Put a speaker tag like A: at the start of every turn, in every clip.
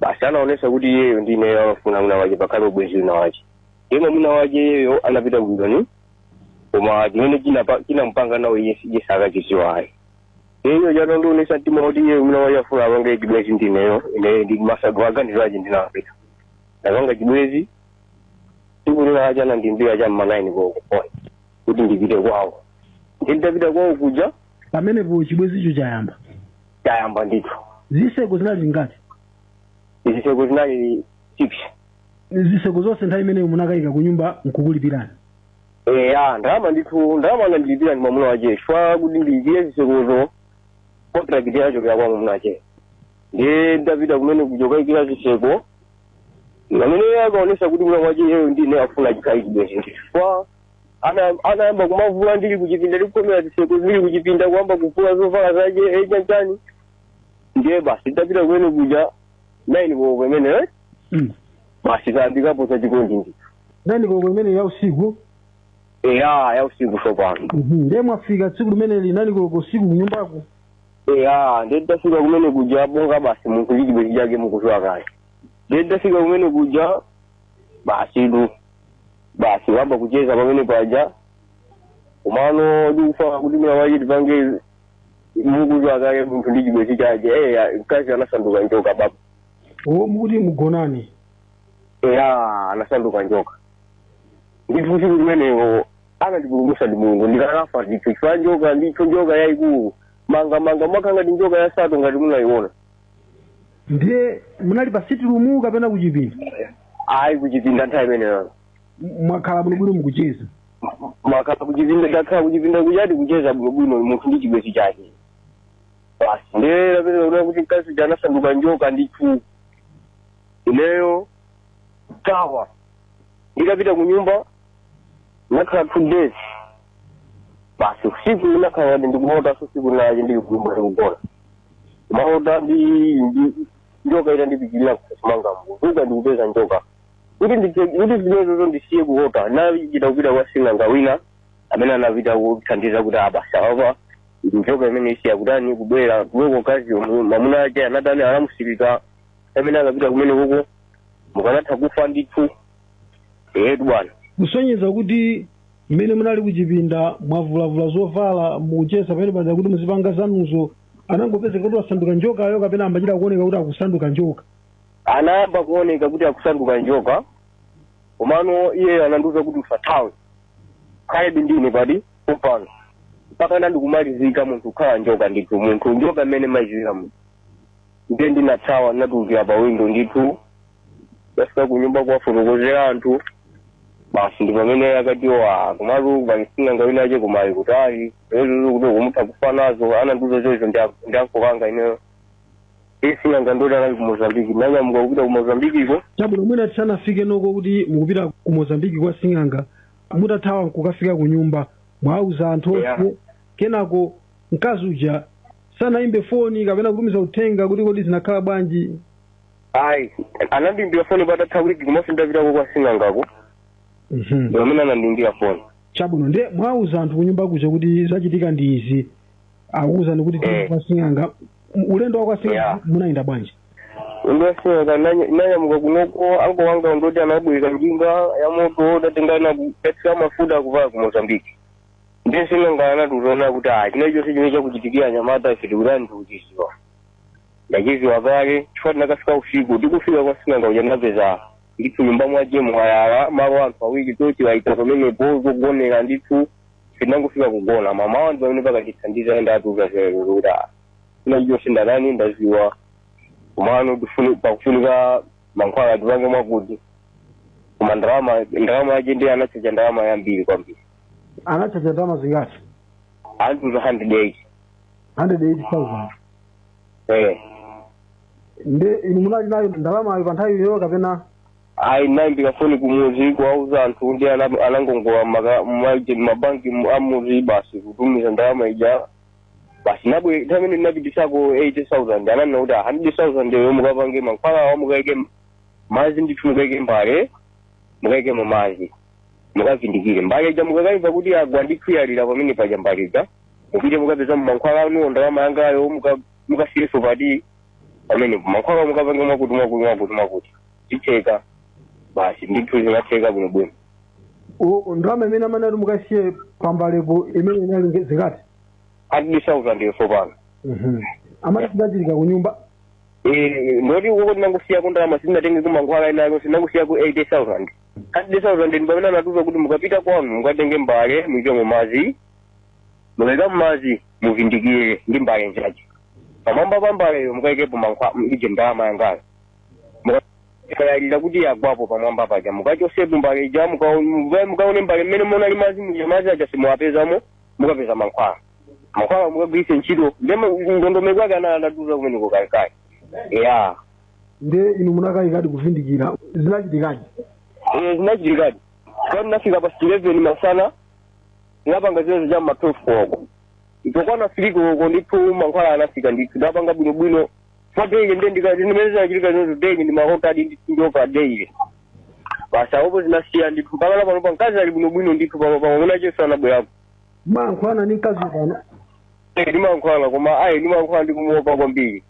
A: basi anaonesa kuti iyeyo ndi ineyo amafuna mwina wache pakhale ubwenzi wina wache yemwe mwina wache iyeyo anapita kujoni koma chimene chinapa- chinamupanga nawo iye iye sakuchiziwa ayi iyeyo anandionesa mtima kuti iye mwina wache afuna apange chibwenzi ndi ineyo ineyo ndi masago aganizo ache ndinapita ndapanga chibwenzi tsiku lina lache anandiimbira cha m'manaini koko pano kuti ndipite kwawo nditapita kwawo kuja pamenepo chibwenzicho
B: chayamba
A: chayamba ndithu ziseko
B: zinali
A: zingati ziseko zinali six ziseko
B: zonse nthawi imeneyo munakayika ku nyumba nkukulipirani eya
A: ndalama ndithu ndalama anandilipira ndi mwamuna wache chifukwa kuti ndiyikire zisekozo contract yochokera kwa mwamuna wache ndiye ndapita kumene kuja kukayikira ziseko pamene akaonesa kuti mwina wache iyeyo ndine afuna chikhale chibwenzi chifukwa ana anayamba kumavula ndili kuchipinda ndikukomera zitseko ndili kuchipinda kuyamba kuvula zovala zake chanichani ndiye basi ndapita kumene kuja naini koko imeneyo eh? Mm. basi tayambapo za chikondi ndithu naini koko imene
B: ya usiku
A: eya ya usiku sopano Mhm. ndiye
B: mwafika tsiku limeneli naini koko usiku kunyumbako
A: eya ndiye tafika kumene kuja bonga basi munthu ndi chibwenzi chake mukuziwa kale ndiye tafika kumene kuja basi tu basi kuyamba kucheza pamene paja komano ndikufuna kuti mwina wache tipange mukuziwa kale munthu ndi chibwenzi chache eya mkazi anasanduka njoka baba o mukuti
B: mugonane eya
A: anasanduka njoka ndithu siku limenelo anandipulumusa ndi mulungu ndikanafa ndithu chifukwa njoka ndithu njoka yayikulu mangamanga ngati njoka ya sato ngati munayiona
B: ndiye munali pa sitirumu kapena kuchipinda
A: ayi kuchipinda nthawi imeneyo M-
B: mwakhala bwinobwino mukucheza mwakhala
A: kuchipinda ndakhala kuchipinda kuchat kucheza bwinobwino munthu ndi chibwenzi chake basi ndiye ndapeza kuona kuti mkazi uja anasanduka njoka ndithu ineyo kuthawa ndikupita ku nyumba nakhala two days basi siku linalake ndikuotaso siku linache ndili kunyumba ndikugona maota ndi ndi njoka itandipikirira m'khosi mwanga nkuzuka ndikupeza njoka kuti ndithe- kuti zimenezozo ndisiye kuota nachita kupita kwa sing'anga wina amene anapita kuthandiza kuti basi apa njoka imeneyi isiya kutani kubwera kuwekokazi mamuna ache anatani anamusirika amene akapita kumeneko mukanatha kufa ndithu etu bwana kusonyeza
B: kuti mmene munali kuchipinda mwavulavula zovala mukucheza pamene paja kuti muzipanga zanuzo anangopezeka kuti wasanduka njokayo kapena amachita kuoneka kuti akusanduka njoka anayamba
A: kuoneka kuti akusanduka njoka komano iyeyo anandiuza kuti usathawe khalebe ndine pati pompano mpaka nandikumalizika munthu kukhala njoka ndithu munthu njoka mmene maiziwira munthu ndiye ndinathawa ndinatulukira pa windo ndithu tafika kunyumba kuwafotokozera anthu basi ndi pamene akati wa komatu pali sing'anga wina ache kumayi kuti ayi ezozo kuti kumutha kufa nazo anandiuza zoizo ndi anko anga ineyo sing'anga ndoti anali ku mozambiki nanyamuka kupita ku mozambikiko chabwino mwina
B: tisanafike uko kuti mukupita ku mozambiki kwa sing'anga mutathawa nkukafika ku nyumba mwauza anthu onse Yeah. kenako mkazi uja sanayimbe foni kapena kutumiza uthenga kuti kodi zinakhala bwanji
A: ayi anandiimbira foni patatha wiki komanso ndapitako kwa sing'angako Mhm. pamene anandiimbira foni chabwino ndiye mwauza
B: anthu kunyumba kuja kuti zachitika ndi izi akuwuzani kuti Eh. kwa sing'anga M- ulendo wa kwa sing'anga Yeah. munayenda bwanji kwa
A: sing'anga nanyamuka kunoko anko anga ndoti anabwera njinga ya moto tatengana kukathira mafuta kupala ku mozambiki ndiye sing'anga anatiuza kuti ah china chilichonse chimene chakuchitikira anyamata ife tikutani tikuchiziwa ndachiziwa kale chifukwa tinakafika usiku tikufika kwa sing'anga uja ndapeza ndithu nyumba mwache mwayala malo anthu awiri choti waita pamenepo zogonera ndithu tinangofika kugona mamawa ndi pamene pakatithandiza enda atiuza zero kuti china chonse ndatani ndaziwa komano tifuni- pakufunika mankhwala tipange mwakuti koma ndalama ndalama yache ndiye anachacha ndalama yambiri kwambiri anachacha
B: ndalama zingati
A: anatiuza 180
B: 180,000 eh nde inu munali nayo ndalamayo pa nthawi iyo kapena ayi
A: naimbira foni kumuzi kuwauza anthu ndi ana- anangongola maka- maje- mabanki mu- amuzi basi kutumiza ndalama ija basi nabwe nthawi imene ndinapitisako 80000 ananena kuti 100000 yo mukapange mankhwalawa mukaike mazi ndithu mukaike mbale mukaike mumazi mukavindikire mbale ija mukakaimva kuti agwa ndikuyalira pamene paja mbale ija mupite mukapeza mo mankhwala anuwo ndalama yangayo muka- mukasiyeso pati pamenepo mankhwala mukapange mwakuti mwakuti mwakuti mwakuti itheka basi ndithu zinatheka bwinobwino U-
B: ndalama imene amanati mukasiye pambalepo imene inali nge- zingati hundred
A: thousand yeso pano
B: amati zidachitika ku nyumba
A: Eh, ndoti ukoko tinangosiyako ndalama sitinatengeko mankhwala inayo tinangosiyako eighty thousand hundred thousand ndi pamene anatiuza kuti mukapita kwanu mukatenge mbale muikemo madzi mukayika madzi muvindikire ndi mbale inzache pamwamba pa mbaleyo mukayikepo mankhwa- uje ndalama yangayo mukayalira kuti yagwapo pamwamba paja mukachosepo mbale ija muka- muka- mukaone mbale mmene munali madzi muja madzi aja simuwapezamo mukapeza mankhwala mankhwala mukagwiritse ntchito ndi ndondomeko ake ana anandiuza kumeneko kalekale ya nde
B: inu munakayikadi kuvindikira zinachitikadi Eh,
A: zinachitikadi kwani nafika pa 11 masana ndinapanga zimenezo cha ma 12 koloko itakwana 3 koloko ndithu mankhwala anafika ndithu ndinapanga bwinobwino pa daily nde ndikati ndimene zinachitika zimenezo daily ndi mahotadi ndithu ndio pa daily basi awopo zinasiya ndithu mpaka na panopa mkazi ali bwinobwino ndithu panopa mwamuna wachenso anabwerako mmayankhulana
B: ndi mkazi pano Eh,
A: ndimayankhula koma ayi ndimayankhula ndikumuopa kwambiri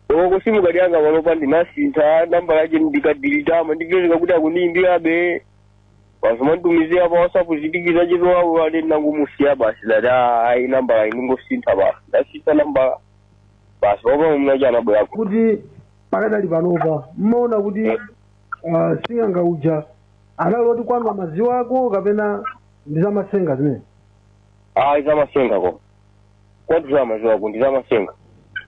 A: oko si mkazi wanga panopa ndinasintha nambala yake ndikadilitama ndipezeka kuti akundiyimbirabe basi amanditumizira pa whatsapp zitikiza chitowawo ade ndinangomusiya basi ndati ayi nambala indingosintha basi ndasintha nambala basi panopa mamunache anabwerako kuti
B: pakadali panopa mmaona kuti ah, sing'anga uja anali oti mankhwala amadziwako kapena ndi zamatsenga zimene
A: ayi zamasenga ko kwati amadziwako ndi zamasenga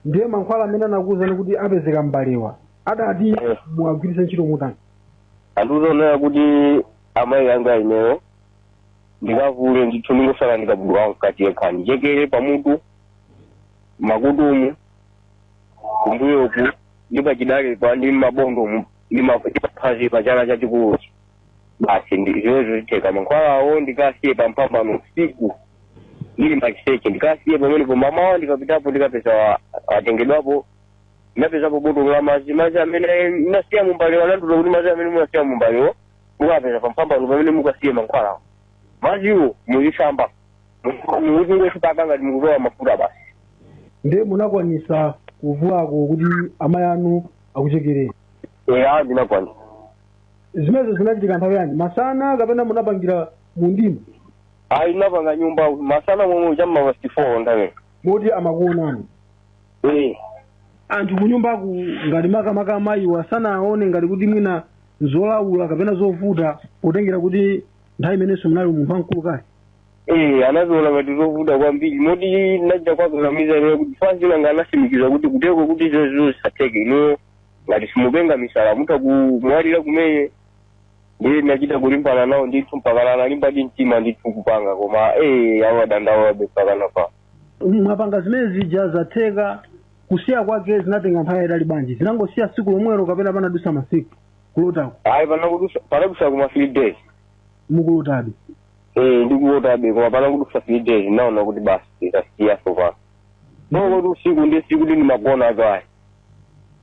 A: ndiye mankhwala
B: amene anakuwuzani kuti apezeka mbalewa adati muwagwiritse ntchito mutani anandiuza
A: zonena kuti amayi anga ineyo ndikavule ndithu ndingosala ndi kabudula wamkati yekha andichekere pamutu mmakutumu kumbuyoku ndi pachidalepa ndi mabondo mu- ndi ma- ndi paphazi pa chala chachikuluchi basi ndi- zimenezo zikatheka mankhwalawo ndikasiye pamphambano usiku ndili maliseche ndikasiye pamenepo mamawa ndikapitapo ndikapeza wa- atengedwapo ndinapezapo botolo la madzi madzi amene ndinasiya mumbalewo anandiuza kuti madzi amene munasiya mumbalewo mukapeza pamphambano pamene mukasiye mankhwalawo madziwo muzisamba muzingodzipaka ngati mukudzola mafuta basi nde
B: munakwanisa kuvulako kuti amayi anu akuchekereni
A: eya
B: ndinakwanisa zimenezo zinachitika nthawi yanji masana kapena munapangira mundima ayi ndinapanga
A: mnyumba masana momwe chamma pasti four ndamene moti amakuonani
B: Eh, anthu kunyumbaku ngati makamaka amayiwa sanaone ngati kuti mwina zolawula kapena zovuta potengera kuti nthawi imenenso munali munthu wamkulu kale eh, anaziona
A: ngati zovuta kwambiri moti ndachita kuwakakamiza ineyo kuti asing'anga anasimikiza kuti kuteko kuti izozo zisatheke inuyo ngati simupenga misala mutha kumwalira kumene ndiye ndinachita kulimbana nawo ndithu mpaka analimba ndi mtima ndithu kupanga koma eh, amadandaulabe mpaka napa
B: mwapanga zimene zija zatheka kusiya kwake zinatenga nthawi yayitali bwanji zinangosiya tsiku lomwelo kapena panadusa masiku kulotako ayi panadusa panadusa
A: kuma three days mukulotabe
B: eh
A: ndikulotabe koma panadusa three days naona kuti basi ndasiya sofa bongo kuti usiku ndi usiku sindimagona azo ayi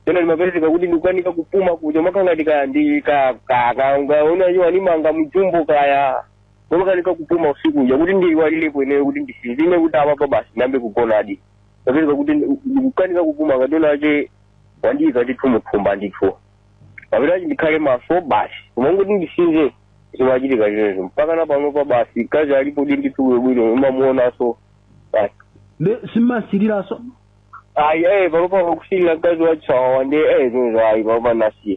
A: pena zimapezeka kuti ndikukanika kupuma kuja mwakangati kaya ndi ka ka ka ungaona iwo animanga mu jumbo kaya Ndimakanika kupuma usiku uja kuti ndiiwalirepo ineyo kuti ndisinzine kuti apapa basi ndiyambe kugonadi. Ndapezeka kuti ndi- ndikukanika kupuma ngati ena ake wandiika ndithu muthumba ndithu. Kapena kuti ndikhale maso basi. Koma kuti ndisinze zimachitika zimenezo. Mpaka na panopa basi mkazi alipo di ndithu bwinobwino umamuonanso basi. Simumasiriranso.
B: Ayi
A: eh panopa wakusilira mkazi wachisawawa ndi eh zimenezo ayi panopa nasiya.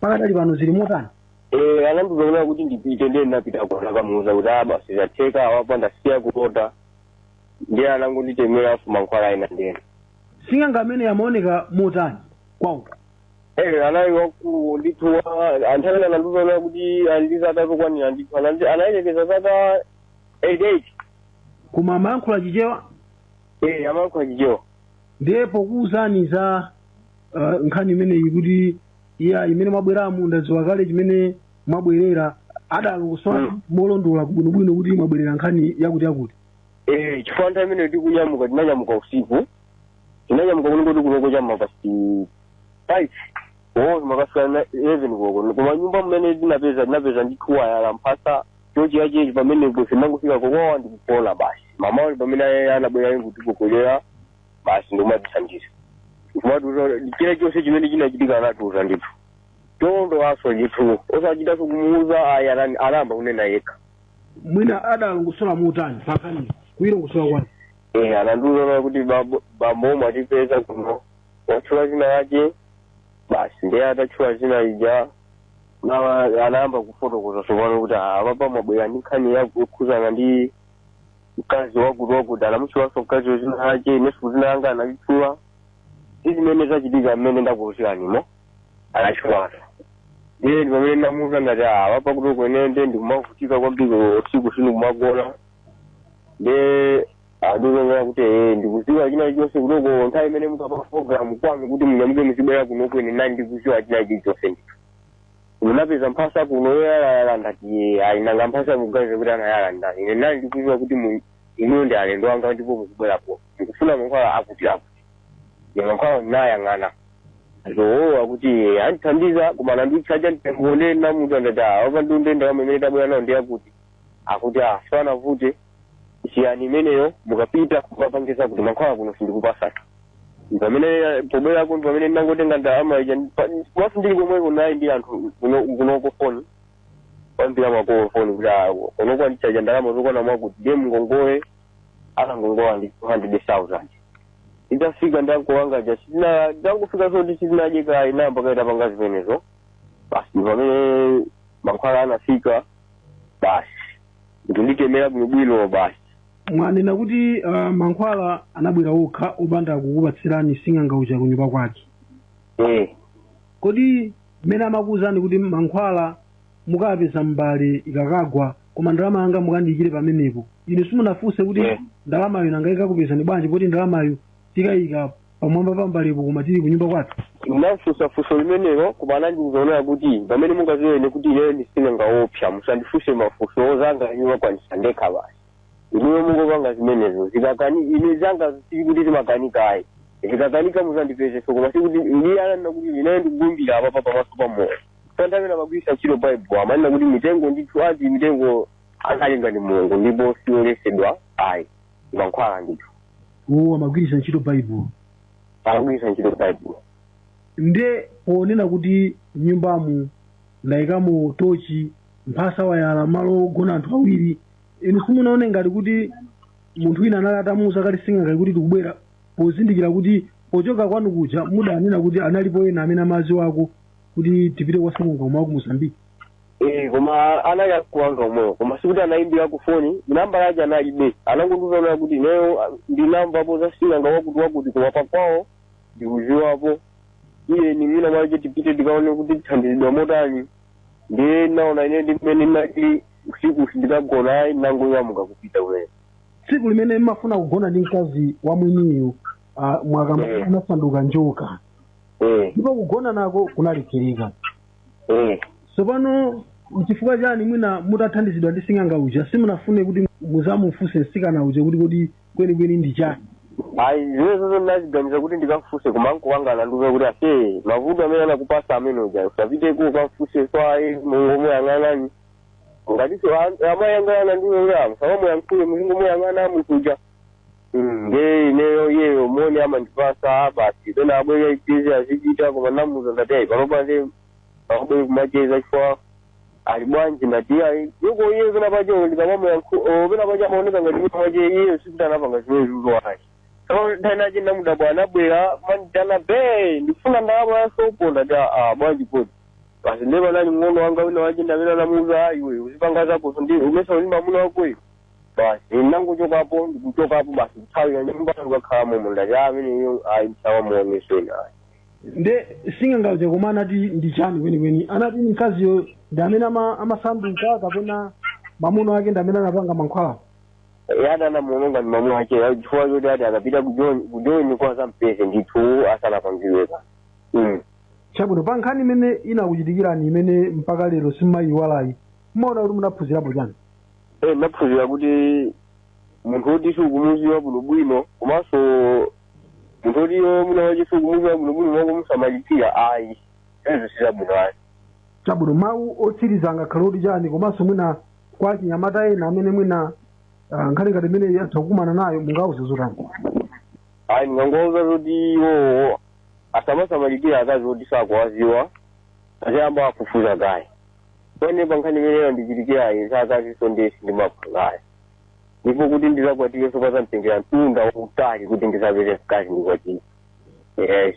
B: pakadali pano zili motani
A: Eh, anandiuza kunena kuti ndipite ndiye ndinapita kunakamuuza kuti ah basi zatheka apapa ndasiya kulota ndiye anangonditemera aso mankhwala ena ndiye sing'anga amene
B: amaoneka motani kwauko Eh,
A: anali wamkulu ndithu wa- anthu amene anandiuza kunena kuti andiza atazokwanira ndithu anandi- anayelekeza zaka eight eight koma
B: amayankhula chichewa Eh, amayankhula
A: chichewa
B: ndiye pokuwuzani za uh, nkhani imeneyi kuti iyayi mmene mwabweramu ndadziwa kale chimene mwabwerera adalongosola Mm. molondola bwinobwino kuti mwabwerera nkhani yakuti yakuti Eh,
A: chifukwa nthawi imene tikunyamuka tinanyamuka usiku tinanyamuka kuno kuti kunoko cha ma past five oo ma past kaya eleven koko koma nyumba mmene tinapeza tinapeza ndikuwa ayala mphasa chochi yachechi pamenepo tinangofika kokoko ndikugona basi mamawo pamene aye anabwera ndikutigogodera basi ndikumatithandiza kumatiuza china chonse chimene chinachitika anatiuza ndithu tondo aswa ndithu osachitanso kumuuza ayi anani- anayamba kunena yekha
B: mwina adalongosola motani pankhani kuyilongosola kwake Eh,
A: anandiuza kuti bambo- bambo mwatipeza kuno watchula zina yache basi ndiye atatchula zina lija nawa anayamba kufotokoza tsopano kuti "Ah, apapa mwabwera ndi nkhani yokhuzana ndi mkazi wakuti wakuti anamuchulanso mkazi wazina lake inenso zina langa analitchula ndi zimene zachitika mmene ndakuuziranimo anachulaso ndiye ndi pamene ndamuuza ndati apapa kuti kunena ndikumavutika kwambiri usiku sindikumagona nde Anduza kuti ee ndikuziwa china chilichonse kunoko nthawi imene mukapanga program kwanu kuti munyamuke muzibwera kuno ine nali ndikuziwa china chilichonse ndithu. Munapeza mphasa kuno yoyalala ndati ee ayi nanga mphasa muganize kuti anayala ndani. Ine nali ndikuziwa kuti mu- inuyo ndi alendo anga ndipo muzibwera kuno. Mukufuna mankhwala akuti akuti. Nde mankhwala ndinayang'ana. Zo akuti ee andithandiza koma ananditchaja nditengonena munthu ndati apapa ndiye ndalama imene tabwera nayo ndi akuti. Akuti ah sizinavute chiyani imeneyo mukapita kukapangisa kuti mankhwala kuno sindikupasani pamene eh, pobwerako pamene ndinangotenga ndalama ija pa- ndili komweko naye ndi anthu kuno- kunoko foni kuyimbira makolo foni kuti ah, kunoko andichaja ndalama zokwana mwakuti ndiye mngongole anangongola ndi 200000 nditafika ndi nkuwanga uja sitina ndangufika zoti sitinadye kayi namba kayamba panga zimenezo basi pamene mankhwala anafika basi kunditemera bwinobwino basi mwanena
B: kuti uh, mankhwala anabwera okha opanda kukupatsirani sing'anga uja kunyumba kwake eh. kodi mmene amakuwuzani kuti mankhwala mukapeza mbale ikakagwa koma ndalama yanga mukandiyikire pamenepo inu simunafunse kuti Yeah. ndalamayo nanga ikakupezani bwanji poti ndalamayo tikayika pamwamba pa mbalepo koma tili kunyumba kwathu ndinafunsa
A: funso limenelo koma anandiuza onena kuti pamene mungaziwe ine kuti ineyo ndi sing'anga oopsa musandifunse mafunso zanga ndikwanisa ndekha basi inuyo mungopanga zimenezo zikakanika ine zanga sikuti zimakanika ayi zikakanika muzandipezeso koma sikuti ndiye ananena kuti ineyo ndikulumbira apapa pamaso pa moyo santavena ndimagwirisa ntchito baibulo amanena kuti mitengo ndithu ati mitengo analenga ndi mulungu ndipo sioletsedwa ayi mankhwala ndithu uwo
B: amagwiritsa ntchito baibulo
A: amagwiritsa ntchito baibulo
B: nde ponena kuti nyumbamu ndayikamo tochi mphasa wayala malo ogona anthu awiri inu simunaone ngati kuti munthu wina anali atamuuza kale sing'anga kuti tikubwera pozindikira kuti pochoka kwanu kuja mudanena kuti analipo ena amene amadziwako kuti tipite kwa sing'anga wa ku mosambiki Eh,
A: koma anali akuwanga omwewo koma sikuti anayimbira ku foni nambala yake analibe anangondiuza kuti ineyo ah, ndinamvapo za sing'anga wakuti wakuti koma pakwawo ndikuziwapo iye ni mwina mwache tipite tikaone kuti tithandizidwa motani ndiye naona ine ndi mmene ndinali usiku sindikagona ayi nangonyamuka kupita kumene tsiku
B: limene mmafuna kugona ndi mkazi wa mwiniyu ah, mwakamba Eh. anasanduka njoka eh ndipo kugona nako kunalekereka Eh, tsopano mchifukwa chani mwina mutathandizidwa ndi sing'anga uja simunafune kuti muzamufunse msikana uja kuti kodi kwenikweni ndi chani ayi zimenezozo
A: ndinaziganiza kuti ndikamfunse koma nkowanga anandiuza kuti ase mavuto amene anakupasa amene uja usapite kukamfunsanso ayi ungomuyang'ana ngatiso amayi anga anandiuza kuti musamuyankhule muzingomuyang'ana munthu uja Mm, nde ineyo iyeyo moni amandipasa basi pena abwera azicheza azichita koma namuza ndati ayi panopa nde akubwere kumacheza chifukwa ali bwanji ndati ayi yoko iye pena pache ndikamamuyankhu pena pache amaoneka ngati kuti pache iyeyo sikuti anapanga zimene zikuzo ayi so nthawi inache ndamudabwa anabwera amanditana be ndikufuna ndalama ya sopo ndati a bwanji kodi basi nde panali mng'ono wanga wina wache ndamene anamuza ayi we uzipanga zako so ndi umesa uli ndi mamuna wakoyo basi ndinangochokapo ndikuchokapo basi kuthawira nyumba ndikakhala momo ndati ameneyo ayi ndisazamuoneso inayo
B: nde sing'anga uja koma anati ndi chani kwenikweni anati ni mkaziyo ndi amene ama- amasanduka kapena mamuno ake ndi amene anapanga mankhwala
A: yada anamuononga ndi mamuno ake chifukwa choti ati akapita kujoini kuti azampeze ndithu asanapangidwe
B: kanthu Mm. chabwino pa nkhani imene inakuchitikirani imene mpaka lero simayiwalayi mmaona kuti munaphunzirapo chani Eh,
A: ndaphunzira kuti munthu woti siukumuziwa bwinobwino komanso munthu woti iwe mwamuna wache siukumuziwa bwinobwino kwangu kumusamalitsira ayi ezo sizabwino ayi chabwino mawu
B: otsiriza angakhale oti chani komanso mwina kwa achinyamata ena amene mwina ah, nkhani ngati imeneyi atha kukumana nayo mungauze zotani ayi
A: ndingangowauza zoti iwowo asamasamalitsira akazi oti sakuwaziwa aziyamba afufuza kaye kwa ine pa nkhani imene yandichitikirayi zakazinso ndiye sindimapanga ayi ndipo kuti ndizakwatire so kazanditengera mtunda wautali kuti ndizapeze mkazi ndikwatire yes